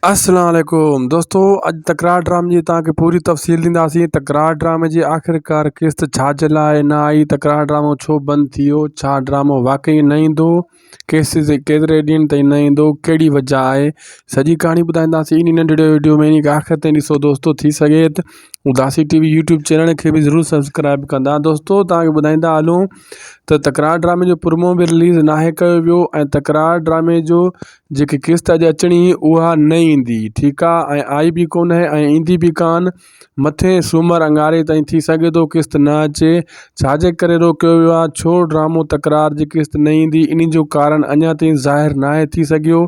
السلام عليڪم دوستو اڄ تڪرار ڊرامي جي توهان کي پوري تفصيل ڏينداسين تڪرار ڊرامي جي آخرڪار قسط ڇا جي لاء نه آئي تڪرار ڊرامو ڇو بند ٿي ويو ڇا ڊرامو واقعي نه ايندو ڪيسز جي ڪيتري ڏينهن تائين نه ايندو ڪهڙي وجهه آهي سڄي ڪهاڻي ٻڌائينداسين ان ننڍڙي ويڊيو ۾ ان کي آخر تائين ڏسو دوستو ٿي سگهي ته Udasi T V YouTube channel کي بي ضرور سبسڪرائب ڪندا دوستو توهان کي ٻڌائيندا هلون ته تڪرار ڊرامي جو پرمو به رليز ناهي ڪيو ويو تڪرار ڊرامي جو جيڪي قسط اڄ اچڻي هئي اها نه ايندي ٺيڪ آ ۽ آئي به ڪونه ۽ ايندي به ڪان مٿين سومر اڱاري تائين ٿي سگهي ٿو قسط نه اچي ڇاجي ڪري روڪيو ويو آ ڇو ڊرامو تڪرار جي قسط نه ايندي انهي جو ڪارڻ اڃا تائين ظاهر ناهي ٿي سگهيو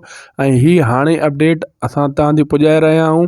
۽ هي هاڻي اپڊيٽ اسان تان تي پڄائي رهيا آهيون